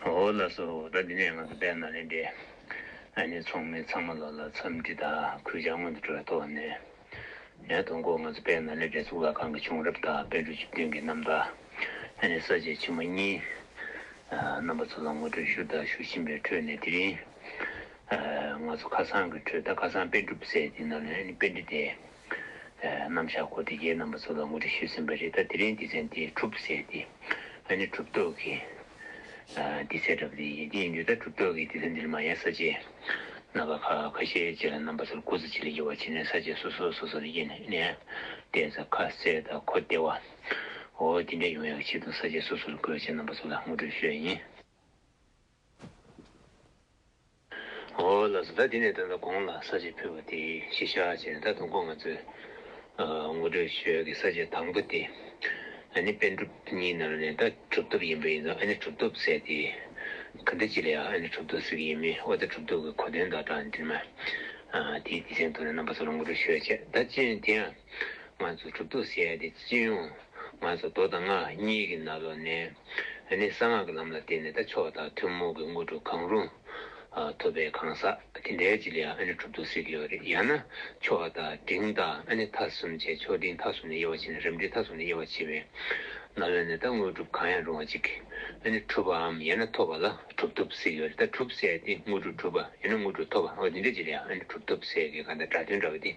ཧོ་ལ་སོ་རོ་ད་འདི་ནས་ང་ཚོ་བལྟས་ན་ལེན་འདི་ཨ་ནེ་ཚོང་མི་ཚང་མ་ལོ་ལ་འཚམས་འདྲི་དང་གུས་ཕྱག་སྔོན་དུ་འགྲོའི་ཐོག་ནས་ཡང་དུ་མགོ་ང་ཚོ་བལྟས་ན་ལེན་འདྲེ་གཙུག་ལག་ཁང་གི་བྱུང་རབས་དང་དཔལ་འབྲུག་ཆུ་སྟོན་གྱི་རྣམ་ཐར་ཨ་ནེ་ས་བཅད་ཆེན་མོ་གཉིས་རྣམ་པ་ཚོ་ལ་ངོ་སྤྲོད་ཞུ་དང་ཞུ་བཞིན་པའི་ཁྲོད་ནས་དེ་རིང་ང་ཚོ་ཁ་སང་གི་ཁྲོད་ད་ཁ་སང་དཔེ་སྒྲུབ་སའི་དེ་ན་ལེན་དཔེ་འབྲི་དེ། རྣམ་གཞག་གོ་བདེ་རྒྱའི་རྣམ་པ་ཚོ་ལ་ངོ་སྤྲོད་ཞུས་ཟིན་པ་རེད་ད་དེ་རིང་སྡེ་ཚན་དེ་གྲུབ་ཟེར་ཏེ་ང་ནི་གྲུབ་རྟོག་གི་སྡེ་ཚན་འདྲ་པོ་དེ་ཡིན་དེ་ཡིན་དུས་ད་གྲུབ་རྟོག་གི་སྡེ་ཚན་འདི་ལ་མ་ཡལ་ས་བཅས་རྣམ་པ་ཁ་ཁ་ཤས་བཅས་ལ་རྣམ་པ་ཚོར་སྐུ་ཚེ་ཆེ་ལ་ཡུ་བ་ཆེ་ནས་ས་བཅས་སོ་སོ་སོ་སོ་ལ་དབྱེ་ནས་བལྟས་ཚ་ཁ་གསལ་དང་གོ་བདེ་བ་འོ་དེ་འདྲ་ཡོང་ཡག་ཆེད་དུ་ས་བཅས་སོ་སོ་ལ་སྐུ་ཚེ་ཆེ་རྣམ་པ་ཚོ་ལ་ངོ་སྤྲོད་ཞུས་ཡ་ཡིན། ཨོ་ལགས་སོ་ད་འདི་ནས་ད་ལྟ་དགོངས་ལ་ས་བཅད་ཕུལ་བ་དེ་གཞི་བཞག་བྱས་ནས་ད་དུང་ཁོང་ང་ཚོའི་ངོ་སྤྲོད་ཞོལ་གྱི་ས་བཅད་དང་པོ་དེ་ཨ་ནི་པན་གྲུབ་གཉིས་ནང་ནས་ད་གྲུབ་ཐོབ་ཡིན་པ་ཡིན་ན་ཨ་ནི་གྲུབ་ཐོབ་ཟེར་ཏེ་ག་འདྲ་ཅི་ལ་ཡང་ཨ་ནི་གྲུབ་ཐོབ་ཟེར་གྱི་ཡིན་མིན་ཨོ་ད་གྲུབ་ཐོབ་ཀྱི་གོ་དོན་དང་སྦྲགས་འདིར་མ་དེའི་དེ་ཚན་དུ་ནས་རྣམ་པ་ཚོ་ལ་ངོ་སྤྲོད་ཞོལ་བྱས་ད་སྤྱི་ཡོངས་དེ་ཡང་ང་ཚོ་གྲུབ་ཐོབ་ཟེར་ཏེ་སྤྱི་ཡོངས་ང་ཚོ་རྡོ་དང་རྔ་གཉིས་ཀྱི་ནང་ལོགས་ནས། འདི་ནི་གསང་སྔགས་ཀྱི་ལམ་ལ་བརྟེན་ནས་ད་ཆོག་དང་ཐུན་མོང་གི་དངོས་གྲུབ་གང་རུང་ཐོབ་པའི་གང་ཟག་དེ་འདྲའི་རྗེས་ལ་ཡང་གྲུབ་ཐོབ་སྲིད་ཀྱི་ཡོད་རེད་ཡང་ན་ཆོག་དང་འབྲིང་དང་མཐའ་གསུམ་བཅས་ཆོག་འབྲིང་མཐའ་གསུམ་ནས་དབྱེ་བ་ཕྱེ་ན་རབ་འབྲིང་མཐའ་གསུམ་ནས་དབྱེ་བ་ཕྱེ་བའི་ནང་ལོན་ནས་ད་དངོས་གྲུབ་གང་ཡང་རུང་བ་ཅིག་གྲུབ་པའམ་ཡང་ན་ཐོབ་པ་ལ་གྲུབ་ཐོབ་སྲིད་ཀྱི་ཡོད་རེད་ད་གྲུབ་བསལ་ཏེ་དངོས་གྲུབ་གྲུབ་པ་ཡང་ན་དངོས་གྲུབ་ཐོབ་པ་འོ་དེ་འདྲའི་རྗེས་ལ་ཡང་གྲུབ་ཐོབ་སྲིད་ཀྱི་གང་ལྟར་སྒྲ་དོན་འདྲ་བ་དེ།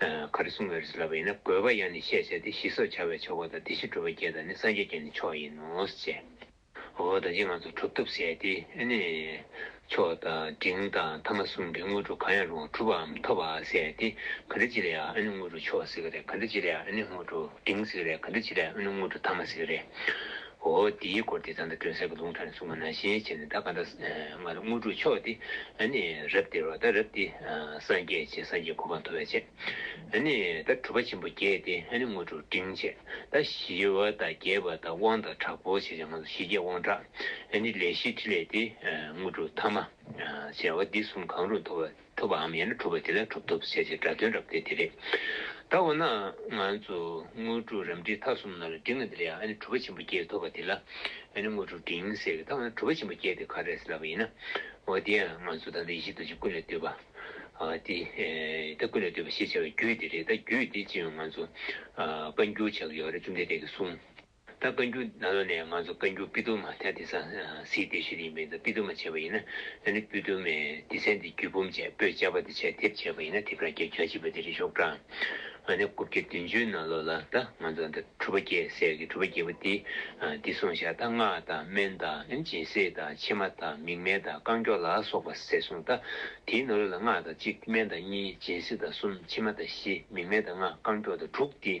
ག་རེ་གསུང་བའི་རིགས་སུ་ལབ་པ་ཡིན་ན་དགོས་པ་ཡང་ནི་ཤས་ཆེ་སྟེ་ཞི་སོགས་བྱ་བའི་ཆོ་ག་དང་སྡེ་བཞི་སྒྲུབ་པ་བརྒྱད་དང་ནི་སངས་རྒྱས་བརྒྱད་ནི་མཆོག་ཡིན་ནོ་ཞེས། འོ་ད་ཅི་ང་ཚོ་གྲུབ་ཐོབ་ཟད་དེ་ནི། ཆོག་དང་འབྲིང་དང་ཐ་མ་གསུམ་གྱི་དངོས་གྲུབ་གང་ཡང་རུང་བ་གྲུབ་བའམ་ཐོབ་བའང་ཟད་དེ་ག་འདྲ་ཅི་ལ་ཡང་ཨ་ནི་དངོས་གྲུབ་ཆོག་ཟེར་གྱི་རེད་ག་འདྲ་ཅི་ལ་ཡང་ཨ་ནི་དངོས་གྲུབ་འབྲིང་ཟེར་གྱི་རེད་ག་འདྲ་ཅི་ལ་ཡང་ཨ་ནི་དངོས་གྲུབ་ཐ་མ་ཟེར་གྱི་རེད། ཧོ། དེའི་སྐོར་དེ་ཙང་ད་དྲོན་གསེར་གྱི་ལུང་ཁྲ་ནས་གསུངས་པ་ནང་བཞིན་བྱས་ནས་ད་ག་འདྲ་སྔར་དངོས་གྲུབ་མཆོག་སྟེ། ཨ་ནི་རབ་སྟེར་བ་ད་རབ་སྟེ། སངས་རྒྱས་བྱེད་སངས་རྒྱས་གོ་འཕང་མཐོ་བས་བྱེད། ཨ་ནི་ད་གྲུབ་པ་ཆེན་པོ་བརྒྱད་དེ་ཨ་ནི་དངོས་གྲུབ་འབྲིང་བྱེད། ད་ཞི་བ་དང་རྒྱས་པ་དང་དབང་དང་དྲག་པོ་བྱེད་ཅིང་ང་ཞི་རྒྱས་དབང་དྲག། ཨ་ནི་ལས་བཞི་ཕྲིན་ལས་ཏེ། དངོས་གྲུབ་ཐ་མ། བྱ་བ་འདི་གསུམ་གང་རུང་མཐོ་བས། ཐུབ་པའམ་ཡང་ན་གྲུབ་པ་དེ་ལ་གྲུབ་ཐོབ་བྱེད་ཅེས་སྒྲ་དོན་རབ་སྟེ་དེ་རེད། ད་འོ་ན་ང་ཚོས་དངོས་གྲུབ་རབ་འབྲིང་ཐ་གསུམ་ནང་ལ་འབྲིང་བ་འདི་ལ་ཡང་ཨ་ནི་གྲུབ་པ་ཆེན་པོ་བརྒྱད་ཐོབ་པ་དེ་ལ་ཨ་ནི་དངོས་གྲུབ་འབྲིང་ཟེར་གི་ད་འོ་ན་གྲུབ་པ་ཆེན་པོ་བརྒྱད་དེ་ག་རེད་ཟེར་ལབ་པ་ཡིན་ན། འོ་དེ་ཡང་ང་ཚོས་ད་ལྟ་ཡེ་ཤེས་རྡོ་རྗེ་ཀུན་ལས་བཏུས་པ། དེ་ད་ཀུན་ལས་བཏུས་པ་ཞེས་བྱ་བའི་རྒྱུད་དེ་རེད་ད་རྒྱུད་དེ་ཅི་ཡང་ང་ཚོས་བཀའ་འགྱུར་བྱ་གི་ཡོད་རེད་བཅོམ་ལྡན་འདས་ཀྱིས་གསུངས། ད་བཀའ་འགྱུར་ནང་ལོ་ནས་ང་ཚོ་བཀའ་འགྱུར་པི་ཏུ་མ་ཐེ་ཏི་སང་སིའི་དེ་ཤེས་ཡིན་པས་ད་པི་ཏུ་མ་བྱས་པ་ཡིན་ན་ནི་པི་ཏུ་མའི་དེ་ཚན་དེ་རྒྱུད་འབུམ་བཅས་པོད་བཅས་པ་དེ་བྱས་དེབ་བྱས་པ་ཡིན་ན་དེབ་རང་རྒྱལ་གྱ་གཅིག་པ་དེ་རེ་ཤོག་གྲངས་ང་ནི་དགུ་བརྒྱ་བདུན་ཅུའི་ནང་ལོ་ལ་ད་ང་ཚོ་ད་གྲུ་པ་བརྒྱད་སྲས་ཀྱི་གྲུ་པ་བརྒྱད་པོ་དེ་དེ་སོང་ཤག་ད་སྔགས་དང་སྨན་དང་སྦྱིན་སྲེག་དང་ཕྱེ་མ་དང་མིག་སྨན་དང་རྐང་མགྱོགས་ལ་སོགས་པ་ཟེར་སོང་ད་དེའི་ནང་ལོ་ལ་སྔགས་དང་གཅིག་སྨན་དང་གཉིས་སྦྱིན་སྲེག་དང་གསུམ་ཕྱེ་མ་དང་བཞི་མིག་སྨན་དང་ལྔ་རྐང་མགྱོགས་དང་དྲུག་དེ།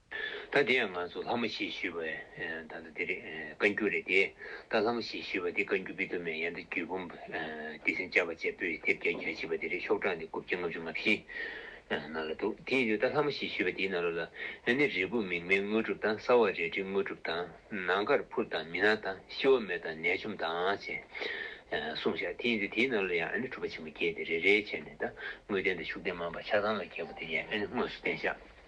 ད་དེ་ཡང་ང་ཚོ་ལྷ་མོ་ཞེས་ཞུས་པའི་ད་ལྟ་དེ་རེད་བཀའ་འགྱུར་རེད་དེ་ད་ལྷ་མོ་ཞེས་ཞུས་པ་དེ་བཀའ་འགྱུར་པི་ཏོ་མའི་ཡན་དུ་རྒྱུད་འབུམ་བདེ་སེམས་བཅའ་བ་བཅས་པོད་དེབ་བརྒྱ་ཉེར་བཞི་པ་དེ་རེད་ཤོག་གྲངས་ནི་དགུ་བརྒྱ་ལྔ་བཅུ་ལྔ་བཞི་ནང་ལ་འདུག་དེ་ཡིན་དུས་ད་ལྷ་མོ་ཞེས་ཞུས་པ་དེའི་ནང་རོ་ལ་ཨ་ནི་རིལ་བུ་མིག་སྨན་དངོས་གྲུབ་དང་སྲ་བ་རལ་གྲི་དངོས་གྲུབ་དང་ནང་དཀར་ཕུར་དང་མི་ནག་དང་ཤི་བ་མེད་དང་ནད་འཇོམས་དང་ཅེས་གསུངས་ཤག་དེ་ཡིན་དུས་དེའི་ནང་ལ་ཡང་ཨ་ནི་གྲུབ་པ་ཆེན་པོ་བརྒྱད་དེ་རེ་རེའི་ཕྱེད་ནས་ད་དངོས་བསྟན་དང་ཤུགས་བསྟན་མང་པ་ཆ་ཚང་ལ་གྱེས་པ་དེ་ཡང་ཨ་ནི་དངོས་སུ་བསྟན་ཤག།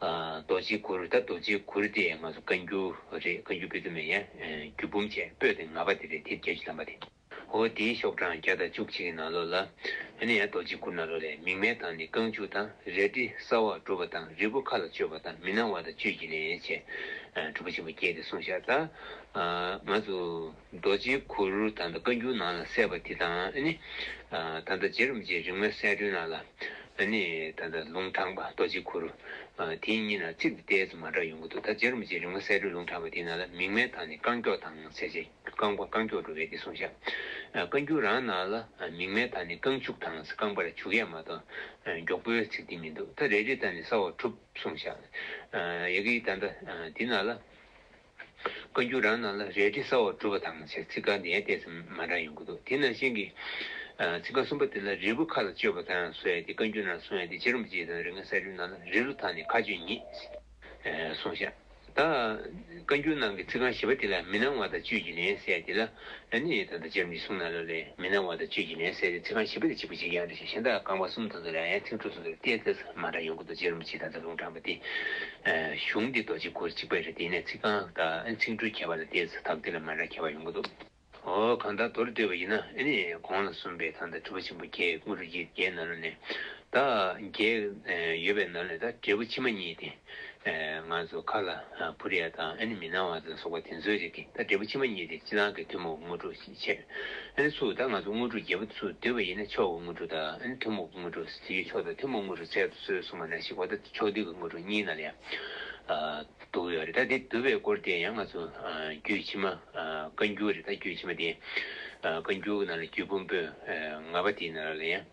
རྡོ་རྗེའི་གུར་ད་རྡོ་རྗེའི་གུར་དེ་ང་ཚོ་བཀའ་འགྱུར་རེད་བཀའ་འགྱུར་སྤེལ་ཐུབ་མེད་ཡ། རྒྱུད་འབུམ་བཅས་སྤོས་དེ་ང་པ་དེ་རེད་དེ་རྒྱལ་གྱི་ལམ་པ་དེ། ཧོ་དེའི་ཤོག་གྲངས་བརྒྱ་དང་བཅུ་གཅིག་གི་ནང་ལོགས་ལ། ཨ་ནི་ཡ་རྡོ་རྗེའི་གུར་ནང་ལོགས་ལས་མིག་སྨན་དང་ནི་རྐང་བཅུ་དང་རལ་གྲི་སྲ་བར་བསྒྲུབ་པ་དང་རིལ་བུ་ཁ་ལ་གཅོད་པ་དང་མི་སྣང་བ་དང་བཅུད་ཀྱི་ནད་བྱེད། གྲུབ་པོ་ཆེན་པོ་བརྒྱད་དེ་གསུངས་ཤག་ད། ང་ཚོ། རྡོ་རྗེའི་གུར། ད་ལྟ་བཀའ་འགྱུར་ནང་ལ་གསལ་བ་དེ་དང། ད་ལྟ་རྗེ་རིན་པོ་ཆེའི་རིག་མའི་གསལ་སྒྲོན་ནང་ལ། ད་ལྟ་ལུང་དྲངས་པ་རྡོ་རྗེའི་གུར། དེ་གཉིས་ནང་ཚིག་དེ་ཏས་མ་འདྲ་ཡོང་གི་འདུག་ད་རྗེ་རིན་པོ་ཆེའི་རིག་མ་གསལ་སྒྲོན་ལུང་དྲངས་པ་དེ་ནང་ལ་མིག་སྨན་དང་ནི་རྐང་མགྱོགས་དང་ཚེ་ཆེ་རྐང་པ་རྐང་མགྱོགས་འགྲོ་བས་དེ་གསུངས་བཞག་བཀའ་འགྱུར་རང་ནང་ལ་མིག་སྨན་དང་ནི་རྐང་བྱུག་དང་རྐང་པར་བྱུག་ཡས་མ་གཏོགས་མགྱོགས་པོའི་ཚིག་དེ་མི་འདུག་ད་རེ་རེ་དང་ནི་ས་འོག་གྲུབ་གསུངས་བཞག་ཡག་གི་ད་ལྟ་དེ་ནང་ལ། བཀའ་འགྱུར་རང་ནང་ལ་རས་བྲིས་གསར་བ་གྲུབ་པ་དང་བཅས་ཚིག་ཀ་ནས་བལྟས་ཙམ་མ་འདྲ་ཡོང་གི་འདུག་དེ་ནང་བཞིན་གྱི། ཚིག་ཀ་གསུམ་པ་དེ་ལ་རིལ་བུ་ཁ་ལ་གཅོད་པ་དང་བཟོ་ཡ་དེ་བཀའ་འགྱུར་ནང་སོང་ཡ་དེ་ཅི་རིམ་གྱིས་དང་རིག་སྔགས་གསར་བསྒྲུབ་ནང་ལ་རིལ་ལུ་དག་ནས་ཁ་གཅོད་ཉིད། སོང་ཤག། ད། བཀའ་འགྱུར་ནང་གི་ཚིག་རྐང་བཞི་པ་དེ་ལ་མི་སྣང་བ་དང་བཅོས་ཀྱི་ལན་གསལ་དེ་ལ། ལན་ནི་ད་ལྟ་ཅེར་མི་གསུང་ན་ལ་ལས་མི་སྣང་བ་དང་བཅས་ཀྱི་ལན་གསལ་ཏེ་ཚིག་རྐང་བཞི་པ་དེ་གཅིག་པུ་ཅིག་ཡང་རེ་ཞིག་གཞན་དག་རྐང་པ་གསུམ་དང་དུ་ལ་ཡང་ཚིག་འབྲུ་གསུམ་དུ་བལྟས་ཚེ་ཚང་མ་འདྲ་ཡོང་གི་འདུག་ཅེར་མི་གཅིག་དང་ཚིག་རྐང་དྲངས་པ་དེ། གཞུང་འདི་རྡོ་རྗེ་གུར་གཅིག་པའི་རེད་དེ་ནས་ཚིག་རྐང་དང་ཚིག་འབྲུ་ཁྱད་པར་ལ་བལྟས་ཚེ་དག་འདི་ལ་མ་འདྲ་ཁྱད་པར་ཡོང་གི་འདུག། ཨོ་གང་དག་མདོར་བསྡུས་པ་ཡིན་ན་ཨེ་ནི་གོང་ལ་གསུམ་པའི་ཐང་དང་དྲིལ་བུ་ཆེན་པོ་བརྒྱད་དངུལ་རུ་བརྒྱད་བརྒྱད་ནཱ་ལོ་ནས་དག་བརྒྱད་ཡོད་པའི་ནང་ནས་དག་འབྲས་བུ་ཕྱི་མ་གཉིས་ཏེ། ང་ཚོ་ཁ་ལ་བུ་རེ་དང་ཨ་ནི་མི་སྣང་བ་ལ་སོགས་པ་དེ་ཚོའི་རིགས་ཀྱིས་ད་འབྲས་བུ་ཕྱི་མ་གཉིས་དེ་ཕྱི་ནང་གི་ཐུན་མོང་གི་དངོས་གྲུབ་ཅེས་འཆད། ཨ་ནི་སུ་དག་ང་ཚོ་དངོས་གྲུབ་བརྒྱད་པོ་དེ་ཚོ་འདོད་པ་ཡིན་ན་ཕྱོགས་ཀྱི་དངོས་གྲུབ་དང་ཨ་ནི་ཐུན་མོང་གི་དངོས་གྲུབ་དེའི་ཕྱོགས་དང་ཐུན་མོང་དངོས་གྲུབ་ཚད་དུ་སོས་སོང་བ་ན་ཞིག་བ་ད་ཕྱོགས་བསྡུས་ཀྱི་དངོས་གྲུབ་གཉིས་ནང་ལ་ཡང་འདུ་གི་ཡོད་རེད་ད་དེ་བསྡུ་བའི་སྐོར་དེ་ཡང་ང་ཚོ་རྒྱུད་ཕྱི་མ་བཀའ་འགྱུར་རེད་ད་རྒྱུད་ཕྱི་མ་དེ་བཀའ་འགྱུར་གྱི་ནང་ལ་རྒྱུད་བུམ་པོད་ལྔ་པ་དེའི་ནང་ལ་ཡང།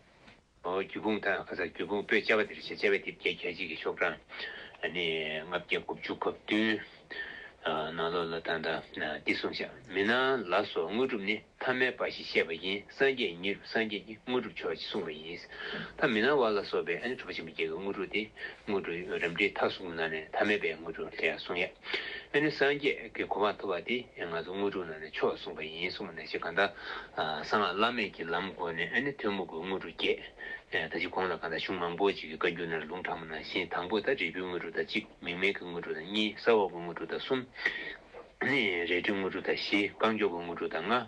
རྒྱུ་སྤུངས་དང་ཁ་སང་རྒྱུ་སྤུངས་སྤོས་བཅའ་བ་འདིར་བྱེད་བཅའ་བའི་དེབ་བརྒྱད་གྱ་གཅིག་གི་ཤོག་གྲངས་ལྔ་བརྒྱ་དགུ་བཅུ་གོ་བདུན། ནང་ལོགས་ལ་དང་དང་སྟེ་བསྲུང་བྱ་མི་སྣང་ལ་སོགས་དངོས་གྲུབ་ནི་ཐ་མལ་པ་ཞེས་བཤད་པ་ཡིན་སངས་རྒྱས་ཉིད་རུ་སངས་རྒྱས་ཀྱི་དངོས་གྲུབ་མཆོག་ཅེས་གསུངས་པ་ཡིན། ཐ་མི་སྣང་བ་ལ་སོགས་པའི་གྲུབ་པ་ཆེན་པོ་བརྒྱད་ཀྱི་དངོས་གྲུབ་སྟེ་དངོས་གྲུབ་རབ་འབྲིང་མཐའ་གསུམ་གྱི་ནང་ནས་ཐ་མལ་པའི་དངོས་གྲུབ་ལྷའི་གསུང་ཡབ། ཨེ་ནི་སངས་རྒྱས་ཀྱི་གོ་འཕང་ཐོབ་པ་དེ་ང་ཚོ་དངོས་གྲུབ་ནང་ནས་ཆོག་གསུངས་པ་ཡིན་གསུངས་པ་ནས་ཕྱིས་གང་ལྟར་གསང་སྔགས་བླ་མེད་ཀྱི་ལམ་དགོས་ནས་ཨེ་ནི་ཐོན་མོ་དགོས་དངོས་གྲུབ་རྒྱས། ད་ཕྱིས་གོང་ལ་གང་ལྟར་གཞུང་མང་པོ་ཅིག་གི་བཀའ་འགྱུར་ནང་ལུང་དྲངས་པ་ནང་བཞིན་དང་པོ་དང་རིལ་བུའི་དངོས་གྲུབ་དང་གཅིག་མིང་མེད་ཀྱི་དངོས་གྲུབ་དང་གཉིས་ས་འོག་གི་དངོས་གྲུབ་དང་གསུམ། རལ་གྲིའི་དངོས་གྲུབ་དང་བཞི་རྐང་མགྱོགས་ཀྱི་དངོས་གྲུབ་དང་ལྔ།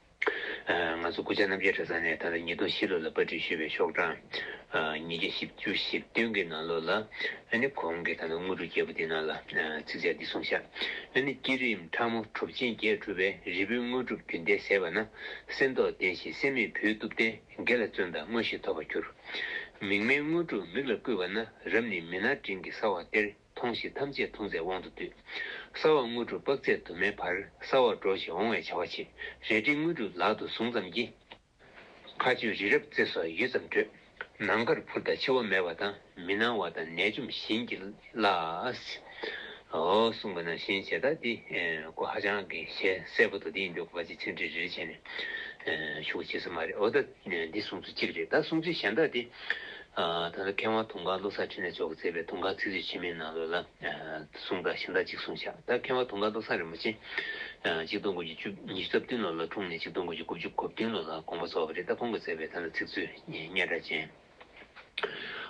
ང་ཚོ་སྐུ་ཕྱྭ་རྣམ་རྒྱལ་གྲྭ་ཚང་ནས་ད་ལྟ་ཉིས་སྟོང་བཞི་ལོ་ལ་པར་སྐྲུན་ཞུས་པའི་ཤོག་གྲངས་ཉིས་བརྒྱ་བཞི་བཅུ་བཞི་བདུན་གྱི་ནང་ལོགས་ལ་ནི་གོང་གི་ད་ལྟ་དངོས་གྲུབ་རྒྱལ་པོ་འདི་རྣམས་ལ་ཚིགས་བཅད་འདི་གསུངས་ཤག་ཨ་ནི་བསྐྱེད་རིམ་ཕྲ་མོ་གྲུབ་ཆེན་བརྒྱད་གྲུབ་པའི་རིལ་བུའི་དངོས་གྲུབ་རྒྱུན་ལྡན་ཟད་པ་ན་གསེར་མདོག་ལྡན་ཞིང་གསེར་མེད་བུའི་གཏུབ་སྟེ་དགེ་ལ་བརྩོན་དང་དངོས་གཞི་ཐོབ་པར་འགྱུར། མིག་སྨན་དངོས་གྲུབ་མིག་ལ་བསྐུས་པ་ན་རབ་ནི་མི་སྣར་འབྲིང་གི་སྲ་བ་སྟེར། མཐོང་བཞིན་ཐམས་ཅད་མཐོང་ཚད་དབང་དུ་སྡུད། སྲ་བ་དངོས་གྲུབ་དཔག་ཚད་དུ་མའི་བར་སྲ་བར་འགྲོ་ཞིང་འོང་བའི་བྱ་བ་བྱེད། རལ་གྲི་དངོས་གྲུབ་ལག་ཏུ་བཟུང་ཙམ་གྱིས། མཁའ་སྤྱོད་རི་རབ་རྩེ་སོགས་ཡུད་ཙམ་བགྲོད། ནམ་མཁར་འཕུར་དང་འཆི་བ་མེད་པ་དང་མི་སྣང་བ་དང་ནད་འཇོམས་བྱིན་གྱིས་བརླབས། ཧོ། གསུངས་པ་ན་བཞིན་བྱས་ལྟ་སྟེ་སྐུ་ཧ་ཅང་གི་ཞལ་གསལ་པོ་དང་དེའི་མདུན་སྐུ་པ་ཆེ་ཆེན་བྲིས་རེ་བྱས་ནས། ཤུགས་ཇི་སྲིད་མ་རེག་ཨོ་ད། འདི་གསུངས་ཚུལ་གཅིག་རེད་ད་གསུངས་ཚུལ་གཞན་དག་དེ། ད་ལྟ་མཁས་དབང་དུང་དཀར་བློ་བཟང་འཕྲིན་ལས་མཆོག་གིས་མཛད་པའི་དུང་དཀར་ཚིག་མཛོད་ཆེན་མོའི་ནང་ལོ་ལ། གསུངས་དག་གཞན་དག་གཅིག་གསུངས་བཞག་ད་མཁས་དབང་དུང་དཀར་བློ་བཟང་རིན་པོ་ཆེ། གཅིག་སྟོང་དགུ་བརྒྱུད་བཅུ་ཉི་ཤུ་རྩ་བདུན་ལོ་ལ་འཁྲུངས་ནས་གཅིག་སྟོང་དགུ་བརྒྱུད་དགུ་བཅུ་གོ་བདུན་ལོ་ལ་དགོངས་པ་རྫོགས་པ་རེད་ད་ཁོང་གིས་མཛད་པའི་ད་ལྟ་ཚིག་མཛོད་རྙེད་གྲགས་ཅན།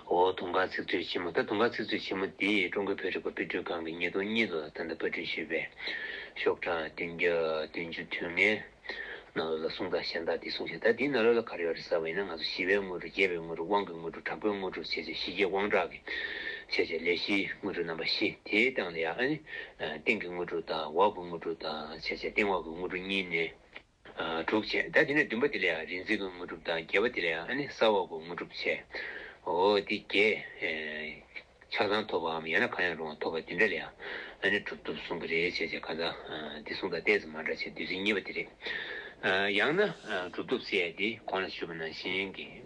ཨོ། དུང་དཀར་ཚིག་མཛོད་ཆེན་མོ་ད་དུང་དཀར་ཚིག་མཛོད་ཆེན་མོ་འདི་ཀྲུང་གོའི་བོད་རིག་པ་དཔེ་སྐྲུན་ཁང་གིས་ཉིས་སྟོང་གཉིས་ལོ་ཟླ་ཟླ་པར་བསྐྲུན་ཞུས་པའི་ཤོག་གྲངས་བདུན་བརྒྱ་བདུན་བཅུ་དུས་ངན། རྣ་ལོ་ལ་གསུངས་དང་གཞན་དག་འདི་གསུངས་ཤིག་ད་འདིའི་རྣ་ལོ་ལ་ག་རེ་ཡོད་རེད་ཟེར་བ་ཡིན་ན་ང་ཚོ་ཞི་བའི་དངོས་གྲུབ་རྒྱལ་བའི་དངོས་གྲུབ་དབང་གི་དངོས་གྲུབ་དྲག་པོའི་དངོས་གྲུབ་བྱས་བྱས་ཞི་རྒྱས་དབང་དྲག་གིས་བྱས་བྱས་ལས་བཞིའི་དངོས་གྲུབ་རྣམ་པ་བཞི་དེའི་སྟེང་ལ་ཡང་ཨ་ནི། སྟེང་གི་དངོས་གྲུབ་དང་འོག་གི་དངོས་གྲུབ་དང་བྱས་བྱས་སྟེང་འོག་གི་དངོས་གྲུབ་གཉིས་ནི། དྲུག་བྱས། ད་དེ་ནས་བདུན་པ་དེ་ལ་ཡང་རིག་འཛིན་གྱི་དངོས་གྲུབ་དང་བརྒྱད་པ་དེ་ལ་ཡང་ཨ་ནི་ས་འོག་གི་དངོས་གྲུབ་བྱས། འོ་དེ་བརྒྱད། ཆགས་སྡང་ཐོབ་པའམ་ཡང་ན་གང་ཡང་རུང་བ་ཐོབ་པ་དེ་འདྲ་ལ་ཡང་ཨ་ནི་གྲུབ་ཐོབ་གསུང་གི་རེད་བྱས་བྱས་གང་ཟག་དེ་གསུང་དང་གཏན་ཚིགས་མ་འདྲ་བྱས་བདུད་རྩི་གཉིས་པ་དེ་རེད། ཡང་ན་གྲུབ་ཐོབ་བསལ་ཏེ་གོང་ལ་ཞུས་པ་ནང་བཞིན་གྱི།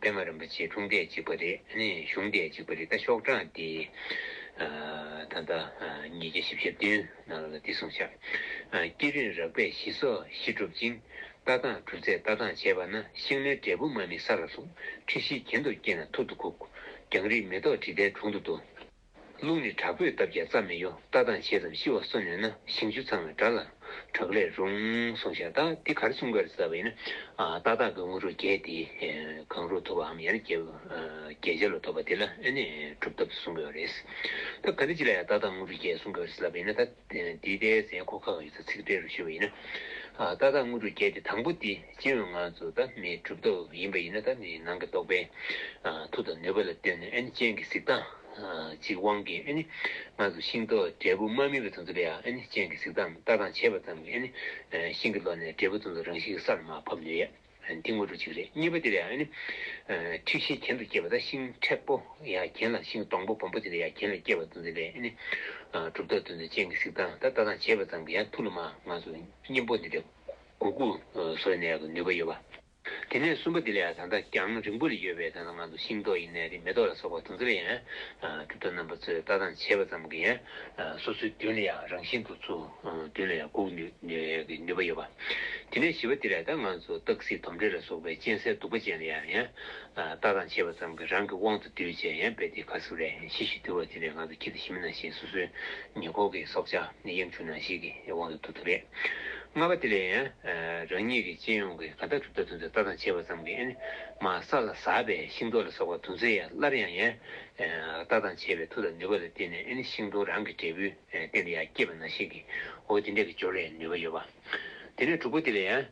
པད་མ་རིན་པོ་ཆེའི་འཁྲུངས་འདས་གཅིག་པ་རེད། བཞུགས་འདས་གཅིག་པ་རེད་ད་ཤོག་གྲངས་དེ། ད་ལྟ་ཉིས་བརྒྱ་བཞི་བཞི་བདུན་ནང་ལ་འདི་གསུངས་བཞག། སྐྱེད་རིང་རགས་པས་ཞི་སོགས་བཞི་གྲུབ་ཅིང། ལྟ་སྟངས་གྲུབ་ཚད་ལྟ་སྟངས་བྱས་པ་ན་ཤིང་ལོའི་འབྲས་བུ་མ་མི་ས་ལ་ཟུག། ཁྲི་བཞི་གྱེན་དུ་བསྐྱེད་ན་ཐུར་དུ་བཀུག། རྒྱང་རིང་མེ་ཏོག་དྲི་ཟླའི་དྲུང་དུ་བསྡུ། རླུང་ནི་དྲག་པོས་བཏབ་ཀྱང་རྩ་མི་གཡོ་ལྟ་སྟངས་ཆེ་ཙམ་ཤི་བ་སོ་ནུས་ན་ཞིང་ཆུ་ཚང་བའི་དགྲ་ལ་གྲགས་ལས་རུང་གསུང་བཤད་ལྟ་འདི་གར་གསུང་སྐར་གསལ་བ་ཡིན་ན་ཏག་ཏག་གི་དངོས་གྲུབ་རྒྱས་ཏེ་གང་རུང་ཐོབ་བའམ་ཡང་ན་རྒྱས་བྱེད་ལ་ཐོབ་པ་དེ་ལ་ནི་གྲུབ་ཐོབ་ཏུ་གསུང་དགོས་པ་རེད། ད་ག་འདྲ་ཅི་ལ་ཡང་ཏག་ཏག་དངོས་གྲུབ་རྒྱས་གསུང་སྐར་གསལ་བ་ཡིན་ན་ད། འདི་ལྟའི་ཟས་སྐོ་ཁག་ཡོད་ཚད་ཚིག་འགྲེལ་རུ་ཤེས་པ་ཡིན་ན། ཏག་ཏག་དངོས་གྲུབ་བརྒྱད་དེ་དང་པོ་དེ་སྤྱི་འོས་ངང་ཚུལ་དང་མེད་གྲུབ་ཐོབ་ཡིན་པ་ཡིན་ན་ད་ནི་ནང་གི་རྟོག་པའི་མཐུ་དང་ནུས་པ་ལ་ལྟོས་ནས་ཨེ་ནི་སྤྱན་གྱི་གཟིགས་སྟངས་ཀྱི་དབང་གིས་ཨེ་ནི་ང་ཚོ་ཤིང་ཏོག་འབྲས་བུ་མ་སྨིན་པའི་དུས་ཚོད་ལ་ཡང་ཨེ་ནི་སྤྱན་གྱི་གཟིགས་སྟངས་ལྟ་སྟངས་བྱེད་པ་ཙམ་གྱིས་ཨེ་ནི་ཤིང་གི་ལོ་ནས་འབྲས་བུ་ཙམ་ཚོ་རང་བཞིན་གྱི་སར་མ་ཕབ་ནུས་ཡ། འདི་དངོས་གྲུབ་གཅིག་རེད་གཉིས་པ་དེ་ལ་ཡང་ནི། འཁྲིག་ཤེས་གྱེན་དུ་སྐྱེས་པ་དང་ཤིང་མཁྲེགས་པོ་ཡང་གྱེན་ལ་ཤིང་སྡོང་པོ་སྦོམ་པོ་དེ་ལ་ཡང་གྱེན་ལ་སྐྱེས་པ་དང་དེ་ལས་ནི། གྲུབ་རྟགས་དོན་དུ་ཅན་གྱི་གཟིགས་སྟངས་ད་ལྟ་དང་བྱེད་པ་ཙམ་གྱིས་ཡང་ཐུགས་ལ་མ་ང་ཚོ་གཉེན་པོ་འདི་འདྲ་གུ་གུ་བཟོ་ནས་ཀྱི་ནུས་པ་ཡོད་པ། དེ་ནས་གསུམ་པ་དེ་ལ་ཡང་ད་ལྟ་རྒྱང་རིང་པོ་ལ་ཡོད་པའི་ད་ལྟ་ང་ཚོ་ཤིང་ཏོག་ཡིན་ནས་རི་མེ་ཏོག་ལ་སོགས་པ་དང་དེ་ལ་ཡང་གྲུབ་རྟགས་རྣམ་པ་ཚོས་ད་ལྟ་དང་བྱེད་པ་ཙམ་གྱིས་ཡང་སོ་སོའི་རྒྱུན་ལ་ཡང་རང་བཞིན་དུ་ཚུ། དེ་ལ་ཡང་འགུག་གི་ནུས་པ་ཡོད་པ། དེ་ནས་བྱིས་པ་དེ་ལ་ད་ང་ཚོ་སྟག་གཟིག་དོམ་དྲེད་ལ་སོགས་པའི་གཅན་གཟན་གདུག་པ་ཅན་ལ་ཡང་ཡང་ལྟ་སྟངས་བྱེད་པ་ཙམ་གྱིས་རང་གི་དབང་དུ་སྡུད་བྱེད་ཡང་དཔེ་དེ་ག་ཟུག་རེད་ཤི་ཞིག་དུལ་བ་དེ་ལས་ང་ཚོ་ཁྱི་དང་ཤི་མི་ནང་བཞིན་སོ་སོའི་ཉེ་འཁོར་གྱི་སྲོག་ཆགས་གཡམ་ཆུང་ནང་ཞིག་གི་དབང་དུ་འདུག་ཐུབ་རེད། ལྔ་པ་དེ་ལས་ཡང་རང་ཉིད་ཀྱི་སྤྱན་ཡོངས་ཀྱིས་ག་ད་གྲུབ་ད་དུ་འདི་ལྟ་སྟངས་བྱེད་པ་ཙམ་གྱིས་ཨེ་ནི་མ་ས་ལ་ཟགས་པས་ཤིང་ཏོག་ལ་སོགས་པ་དུག་མཚོན་ཡང་སླར་ཡང་ཡང་ལྟ་སྟངས་བྱེད་པའི་མཐུ་དང་ནུས་པ་ལ་བརྟེན་ནས་ཨེ་ནི་ཤིང་སྡོང་རང་གི་འབྲས་བུའི། བསྟན་དེ་ཡང་སྐྱེས་པ་ན་ཤིང་གི་འོ་དེ་འདྲ་གི་སྦྱོར་བའི་ནུས་པ་ཡོད་པ། དེ་ནས་དྲུག་པོ་དེ་ལ་ཡང།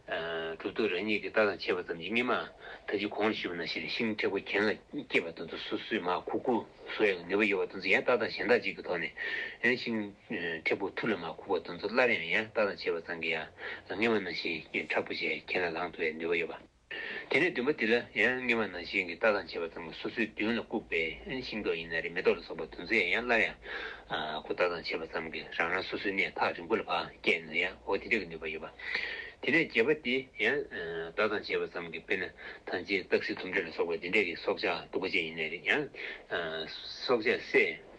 གྲུབ་ཐོབ་རང་ཉིད་ཀྱི་རྟགས་དང་ཆད་པ་ཙམ་གྱིས་སྨིན་མ། ད་ཅི་གོང་ལ་ཞུས་པ་ན་ཤེར་ཕྱིན་མཁྲེགས་པོ་གྱེན་ལ་སྐྱེས་པ་དང་དུ་སུ་སུའི་མ་ཁུ་ཁུ་བཟོ་ཡང་ནུས་པ་ཡོད་པ་དང་ཡང་རྟགས་དང་ཞེན་རྟགས་གཅིག་གི་ཐོག་ནས། ཤིང་མཁྲེགས་པོ་ཐུར་ལ་མ་ཁུག་པ་དང་དུ་སླར་ཡང་ཡང་རྟགས་དང་ཆད་པ་ཙམ་གྱིས་ཡང་སྨིན་མ་ན་ཤིང་མཁྲེགས་པོ་ཞེས་གྱེན་ལ་ལངས་ཐུབ་པའི་ནུས་པ་ཡོད་པ། དེ་ནས་བདུན་པ་དེ་ལ་ཡང་སྔེ་མ་ནང་བཞིན་གྱི་རྟ་དང་བྱེ་བ་ཚང་མ་སོ་སོའི་མདུན་ལ་བཀུག་པས་ཤིང་ཏོག་ཡིན་ན་རེ་མེ་ཏོག་ལ་སོགས་པ་དུ་མཛེས་ཡང་སླར་ཡང་ཁོ་རྟ་དང་བྱེ་བ་ཙམ་གྱིས་རང་རང་སོ་སོའི་གནས་ཐག་རིང་པོ་ལ་བག་སྐྱེད་ན་ཡང་འོ་དེ་འདྲ་གི་ནུས་པ་ཡོད་པ། དེ་ནས་བརྒྱད་པ་དེ་ཡང་རྟ་དང་བྱེ་བ་ཙམ་གྱིས་དཔེར་ན་ཐང་ཅིག་སྟག་གཟིག་དུམ་དྲེད་ལ་སོགས་པ་འདི་འདྲ་གི་སྲོག་ཆགས་སྡུག་པ་ཅན་ཡིན་ན་རེ་ཡང་སྲོག་ཆགས་སྲེད།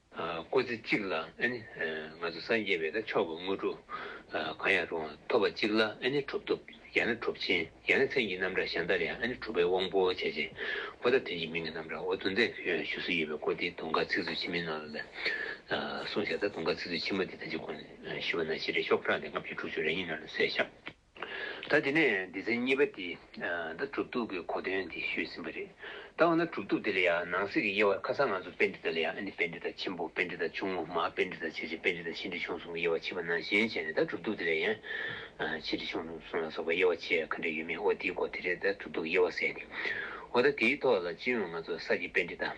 སྐུ་ཚེ་གཅིག་ལ་ང་ཚོ་སངས་རྒྱས་པའི་མཆོག་གི་དངོས་གྲུབ་གང་ཡང་རུང་བ་ཐོབ་པ་གཅིག་ལ་གྲུབ་ཐོབ་ཡང་ན་གྲུབ་ཆེན་ཡང་ན་མཚན་གྱི་རྣམ་གྲངས་གཞན་དག་ལ་ཡང་གྲུབ་པའི་དབང་པོ་ཆེ་ཆེན་པོ་དག་དོན་གྱི་མིང་གི་རྣམ་གྲངས་འོ་དུ་མཛད་དུ་ཡང་བཞུགས་སུ་ཡོད་པའི་སྐོར་འདི་དུང་དཀར་ཚིག་མཛོད་ཆེན་མོའི་ནང་ལ་གསུངས་ཤ་ཟ་དུང་དཀར་ཚིག་མཛོད་ཆེན་མོ་འདི་ད་ཅི་གོ་ནས་ཤི་བ་ན་ཤི་རེ་ཤོག་ཁྲག་འདི་ལྔ་བཅུ་དྲུག་ཅུ་རེ་གཉིས་ནང་ལ་ཟོས་ཤ། ད་དེ་ནས་སྡེ་ཚན་གཉིས་པ་དེ་ད་གྲུབ་ཐོབ་ཀྱི་གོ་དོན་དེ་ཤོད་ཟིན་པ་རེད། ད་འོ་ན་གྲུབ་ཐོབ་དེ་ལ་ཡང་ནང་གསེས་ཀྱི་དབྱེ་བར་ཁ་སང་ང་ཚོ་དཔེ་འབྲི་དག་ལ་ཡང་ཨ་ནི་དཔེ་འབྲི་དག་ཆེན་པོ་དཔེ་འབྲི་དག་ཆུང་ངུ་མ་དཔེ་འབྲི་དག་ཆེ་ཆེ་དཔེ་འབྲི་དག་ཆེ་འབྲི་ཆུང་གསུམ་གྱི་དབྱེ་བ་ཕྱིས་པ་ནང་བཞིན་བྱས་ནས་ད་གྲུབ་ཐོབ་དེ་ལ་ཡང་ཆེ་འབྲི་ཆུང་གསུམ་ལ་སོགས་པའི་དབྱེ་བ་ཕྱེ་ཡ་ག་འདྲ་ཡོད་མེད་ཨོ་དེའི་སྐོར་དེ་རེད་ད་གྲུབ་ཐོབ་ཀྱི་དབྱེ་བ་གསལ་ཏེ་འོ་ད་དེའི་ཐོག་ལ་སྤྱི་ཡོངས་ང་ཚོ་གསར་གྱི་དཔེ་འབྲི་དག།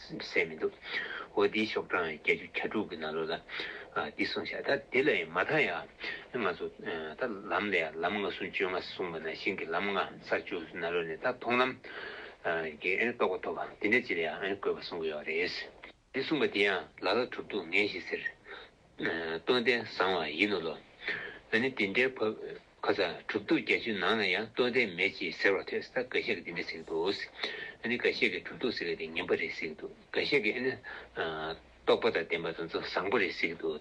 སེམས་མི་འདུག་འོ་འདིའི་ཤོག་གྲངས་བརྒྱད་ཅུ་གྱ་དྲུག་གི་ནང་ལོ་ལ་འདི་གསུངས་བྱ་ད་དེ་ལ་ཡང་མ་མཐའ་ཡང་ང་ཚོ་ད་ལམ་ལ་ཡང་ལམ་ལྔ་ཟུང་བཅོས་ལྔ་གསུངས་པ་ན་ཤིང་གི་ལམ་ལྔ་ས་བཅུ་ན་ལོ་ནས་ད་མཐོང་ལམ་གྱི་རྟོགས་པ་ཐོབ་དེ་འདྲ་ཅི་ལ་ཡང་དགོས་པ་གསུངས་ཀྱི་ཡོད་རེད། འདི་གསུངས་པ་དེ་ཡང་ལ་ལ་གྲུབ་འདུག་ངས་ཞེས་ཟེར། སྟོན་ཟླས་བཟང་བ་ཡིན་ནོ་ལོ། འོན་ནི་འདི་འདྲའི་བབ། ཁ་ཚ་དྲུག་སྟོང་བརྒྱད་ཅུའི་ནང་ན་ཡང་སྟོན་ཟླས་མེད་ཅེས་ཟེར་བ་ཐོས་ས་འགའ་ཤས་ཀྱིས་འདི་འདྲ་ཟེར་གྱི་འདུག་འོན་ནི་འགའ་ཤས་ཀྱིས་དྲུག་སྟོང་ཟེར་བ་དེ་ངན་པ་རེད་ཟེར་གྱི་འདུག་འགའ་ཤས་ཀྱིས་ཨེ་ནི། རྟོགས་པ་དང་ལྡན་པ་དང་ཚོ་བཟང་པོ་རེད་ཟེར་གྱི་འདུག་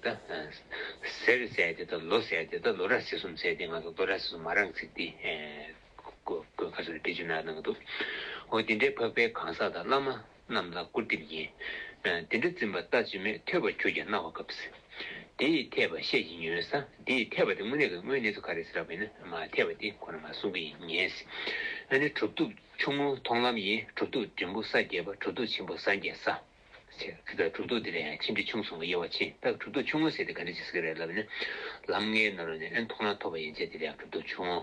ཟེར་རེ་ཟེར་དེ་དང་ལོ་ཟེར་དེ་དང་ལོ་རགས་ཟེར་གསུམ་ཟེར་དེ་ང་ཚོ་ལོ་རགས་ཟེར་གསུམ་མ་རང་ཚིག་འདི་གོ་གོ་ཁ་ཚ་དྲུག་བརྒྱད་ཅུ་ནང་གནང་གི་འདུག་འོ་འདི་འདྲའི་བབ་པའི་གང་ཟག་དང་བླ་མ། རྣམས་ལ་སྐུར་འདེབས་ཡིན། དེ་འདྲ་འཛིན་པ་ལྟ་ཅི་སྨོས་ཐོས་པ་ཁྱོད་ཀྱིས་སྣང་བ་སྐབས། དེ་ཡི་ཐེག་པ་བཤད་ཀྱིས་ཉོན། ས་དེ་ཡི་ཐེག་པ་དེ་དངོས་གནས་ཀྱི་དངོས་གནས་སུ་ག་རེ་ཟེར་བ་ཡིན་ན་མ་ཐེག་པ་དེ་ཁོ་ན་མ་གསུང་གི་ཡིན་ངེས། ཨ་ནི་གྲུབ་ཐོབ་ཆུང་ངུ་མཐོང་ལམ་ཡིན་གྲུབ་ཐོབ་འབྲིང་པོ་ས་བརྒྱད་པ་གྲུབ་ཐོབ་ཆེན་པོ་ས་བརྒྱད་ས། ཁྱེད་ལ་གྲུབ་ཐོབ་དེ་ལས་ཡང་ཆེ་འབྲིང་ཆུང་གསུངས་ཀྱི་ཡོད་བ་ཕྱིན་ད་གྲུབ་ཐོབ་ཆུང་ངུ་ཟེར་དེ་ག་འདྲ་ཅིག་ཟེར་གི་རེད་ལབ་ནས། ལམ་ལྔའི་ནང་ནས་ཨེ་མཐོང་ན་ཐོབ་པ་ཡན་ཆད་དེ་ལས་ཡང་གྲུབ་ཐོབ་ཆུང།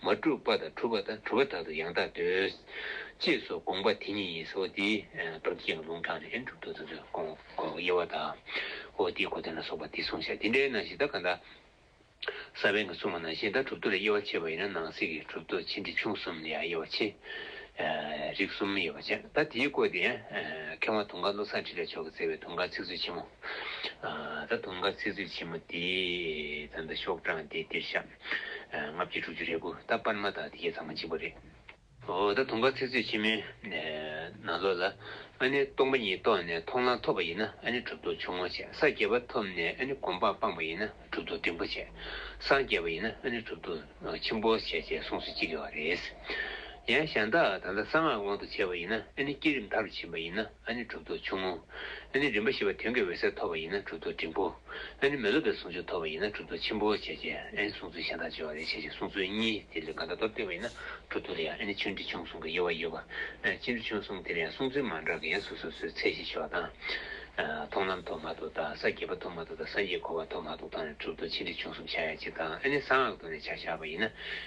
མ་གྲུབ་པ་དང་གྲུབ་པ་དང་གྲུབ་པ་དག་ཏུ་ཡང་དག་འདོད། ཅེས་སོགས་དགོངས་པ་དེ་ཉིད་ཡིན་ཟེར་བ་འདི། རྡོ་རྗེ་ཡང་ལུང་དྲངས་ནས་ཨེ་འགྲུབ་ཏུ་དོན་དུ་དགོངས། དབྱེ་བ་དང། ཨོ་ཏི་གོ་ཏི་ལ་སོགས་པ་འདི་གསུངས་བྱ་འདི་འདྲའི་ནང་བཞིན་ད་ག་ད། ས་བོན་གྱི་གསུངས་པ་ནང་བཞིན་ད་གྲུབ་ཏུ་ལ་དབྱེ་བ་ཕྱེ་བ་ཡིན་ན་ནང་གསེས་ཀྱི་གྲུབ་ཏུ་ཕྱེ་འབྲི་ཆུང་གསུམ་ལ་ཡང་དབྱེ་བ་ཕྱེ། རིགས་གསུམ་དབྱེ་བ་ཕྱེ་ད་དེའི་སྐོར་དེ། མཁས་དབང་དུང་དཀར་བློ་བཟང་ཁྲི་ལས་མཆོག་གིས་བསྩལ་བའི་དུང་དཀར་ཚིག་མཛོད་ཆེན་མོ། ད་དུང་དཀར་ཚིག་མཛོད་ཆེན་མོ་འདི། ད་ཤོག་གྲངས་འདི་འདིར་བཤམ། ལྔ་བརྒྱ་དྲུག་ཅུ་རེ་དགུ་རྟག་པར་མ་དག་དེ་ཁྱེད་ཚང་མ་གཅིག་པོ་རེད། འོ་ད་དུང་པ་ཚིག་ཚོད་ཕྱི་མའི་ནང་ལོགས་ལ་ཨ་ནེ་སྟོང་པ་ཉིད་རྟོགས་ནས་མཐོང་ལམ་ཐོབ་པ་ཡིན་ན་ཨ་ནེ་གྲུབ་ཐོབ་ཆུང་ངུ་བྱས་ས་བརྒྱད་པ་ཐོབ་ནས་ཨ་ནེ་གོམ་སྤངས་སྤངས་པ་ཡིན་ན་གྲུབ་ཐོབ་འབྲིང་པོ་བྱས་སངས་རྒྱས་པ་ཡིན་ན་ཨ་ནེ་གྲུབ་ཐོབ་ཆེན་པོ་བྱས་ཅེས་གསུངས་སུ་ཅི་དགེ་བ་རེད། ཡང་གཞན་དག་ད་ལྟ་གསང་སྔགས་དབང་དུ་བྱས་པ་ཡིན་ན་ཨ་ནེ་བསྐྱེད་རིམ་མཐའ་རུ་ཕྱིན་པ་ཡིན་ན། ཨ་ནི་གྲུབ་ཐོབ་ཆུང་ངུ། ཨ་ནི་རིམ་པ་བཞི་པ་དོན་གྱི་འོད་གསལ་ཐོབ་པ་ཡིན་ན་གྲུབ་ཐོབ་འབྲིང་པོ། ཨ་ནི་མི་སློབ་པའི་ཟུང་འཇུག་ཐོབ་པ་ཡིན་ན་གྲུབ་ཐོབ་ཆེན་པོ། བྱས་རྗེས་ཨ་ནི་གསུངས་ཚུལ་གཞན་དག་སྦྱོར་བ་ལས་བྱས་རྗེས་གསུངས་ཚུལ་གཉིས་དེ་ལས་འགའ་ད་དོར་སྟེར་བ་ཡིན་ན་གྲུབ་ཐོབ་ལ་ཡང་ཨ་ནི་ཆུང་འབྲིང་ཆུང་གསུམ་གྱི་དབྱེ་བ་ཡོད། པའི་ཆུང་འབྲིང་ཆུང་གསུམ་དེ་ལ་ཡང་གསུངས་ཚུལ་མ་འདྲ་གི་ཡང་སོ་སོ་སོའི་ཚད་གཞི་ཆེ་བ་དང། མཐོང་ལམ་ཐོག་མ་ཐོག་དང་ས་བརྒྱད་པ་ཐོག་མ་ཐོག་དང་སངས་རྒྱས་འཁོར་བ་ཐོག་མ་ཐོག་དང་ནས་གྲུབ་ཐོབ་ཆེ་འབྲིང་ཆུང་གསུམ་ཆ་ཡང་གཅིག་དང་ཨ་ནི་གསང་སྔགས་ཐོག་ནས་ཆ་བཞག་པ་ཡིན་ན།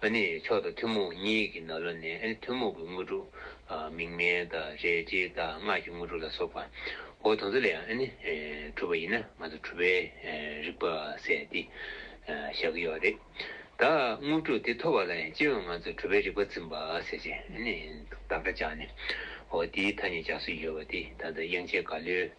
ཨ་ནི་མཆོག་དང་ཐུན་མོང་གཉིས་ཀྱི་ནཱ་ལོ་ནས་ཐུན་མོང་གི་དངོས་གྲུབ། མིག་སྨན་དང་རས་བཅས་དང་སྔགས་ཀྱི་དངོས་གྲུབ་ལ་སོགས་པ། འོ་དང་ཚ་ལས་ཡང་ཨ་ནི་གྲུབ་པ་ཡིན་ན་ང་ཚོ་གྲུབ་པའི་རིག་པ་ཟེར་ཏེ་བཞག་གི་ཡོད་རེད། ད་དངོས་གྲུབ་དེ་ཐོབ་པ་ལ་ཡང་སྤྱིར་ང་ཚོ་གྲུབ་པའི་རིག་པ་འཛིན་པ་ཟེར་ཞེས་བདག་སྒྲ་བཅག་ནས། འོ་དེའི་ཐ་སྙད་རྒྱག་སྲོལ་ཡོད་པ་དེ་ད་ལྟ་དབྱངས་ཅན་དགའ་ལོས།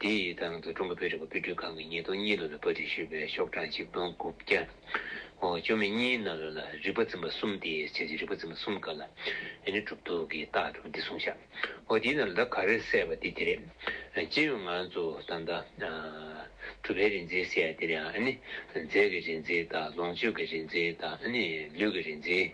དེ་ཡི་ཐང་དུ་ཀྲུང་གོ་བོད་རིག་པ་དཔེ་སྐྲུན་ཁང་གི་ཉིས་སྟོང་གཉིས་ལོ་ལ་པར་སྒྲིག་ཞུས་པའི་ཤོག་གྲངས་ཆིག་སྟོང་དགུ་བརྒྱ། བཅོ་ལྔ་གཉིས་ནཱ་ལོ་ལ་རིག་པ་འཛིན་པ་གསུམ་སྟེ་བྱས་རྗེས་རིག་པ་འཛིན་པ་གསུམ་ག་ལ་ཡིན་ནི་གྲུབ་ཐོབ་ཀྱི་རྟགས་གྲུབ་འདི་གསུངས་བཞག་འོ་དེའི་ནང་ལ་ད་ག་རེ་གསལ་བ་དེ་དེ་རེད། སྤྱིར་ཡང་ང་ཚོ་ད་ལྟ་གྲུབ་པའི་རིག་འཛིན་ཟེར་ཡ་དེ་རེད་ཨ་ནི་རྫས་ཀྱི་རིག་འཛིན་དང་ལོངས་སྤྱོད་ཀྱི་རིག་འཛིན་དང་ཨ་ནི་ལུས་ཀྱི་རིག་འཛིན།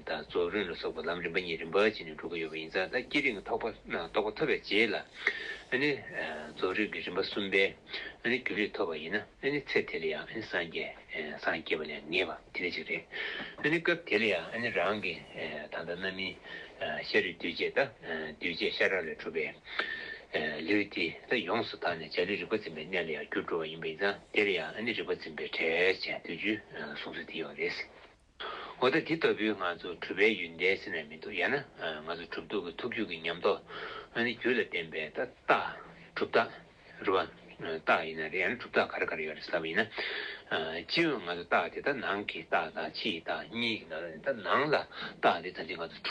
དང་རྫོགས་རིམ་ལ་སོགས་པ་ལམ་རིམ་པ་གཉིས་རིམ་པར་བྱས་ནས་འགྲོ་གི་ཡོད་པ་ཡིན་ཙང་ད་ཀྱི་རིགས་ཐོག་པ་རྟོགས་པ་ཐོབ་པའི་རྗེས་ལ་ནི་རྫོགས་རིམ་གྱི་རིམ་པ་གསུམ་པའི་རྒྱུན་རིགས་ཐོབ་པ་ཡིན་ན་ནི་ཚེ་དེ་ལ་ཡང་སངས་རྒྱས་སངས་རྒྱས་པ་ལས་ངེས་པ་དེ་ནི་གཅིག་རེད། སྐབས་དེ་ལ་ཡང་རང་གི་ད་ལྟ་རྣམ་སྨིན་ཤ་རུས་གདུལ་བྱའི་ད་གདུལ་བྱའི་ཤ་ར་ལས་གྲུབ་པའི་ལུས་དེ་ད་ཡོངས་སུ་དག་ནས་བྱ་ལུས་རིག་པ་འཛིན་པའི་གནས་ལ་ཡང་རྒྱུར་འགྲོ་བ་ཡིན་པ་ཡིན་ཙང་དེ་ལ་ཡང་རིག་པ་འཛིན་པའི་བྲལ་བྱའི་བདུན་ཅུའི་གསུང་ཚུལ་དེ་ཡོད་པ་རེད། འོ་ད་འདི་ལྟ་བུའི་ང་ཚོ་གྲུབ་པའི་ཡུལ་འདས་ཟིན་ནས་མི་འདུག་ཡང་ན་ང་ཚོ་གྲུབ་འདུག་གི་ཐུགས་རྒྱུད་ཀྱི་ཉམས་རྟོགས་ཨ་ནི་རྒྱུད་ལ་བརྟེན་པའི་ཏག་ཏག་གྲུབ་རྟགས་རུ་བ་རྟགས་ཡིན་ན་རེད་ཡང་ན་གྲུབ་རྟགས་ག་རེ་ག་རེ་ཡོད་རེད་ཟེར་བ་ཡིན་ན། སྤྱིར་ང་ཚོ་རྟགས་དེ་ད་ནང་གི་རྟགས་དང་ཕྱིའི་རྟགས་གཉིས་ཀྱི་ནང་ལ་ནས་ད་ནང་ལ་རྟགས་དེ་ད་འདི་ང་ཚོ་གྲུབ།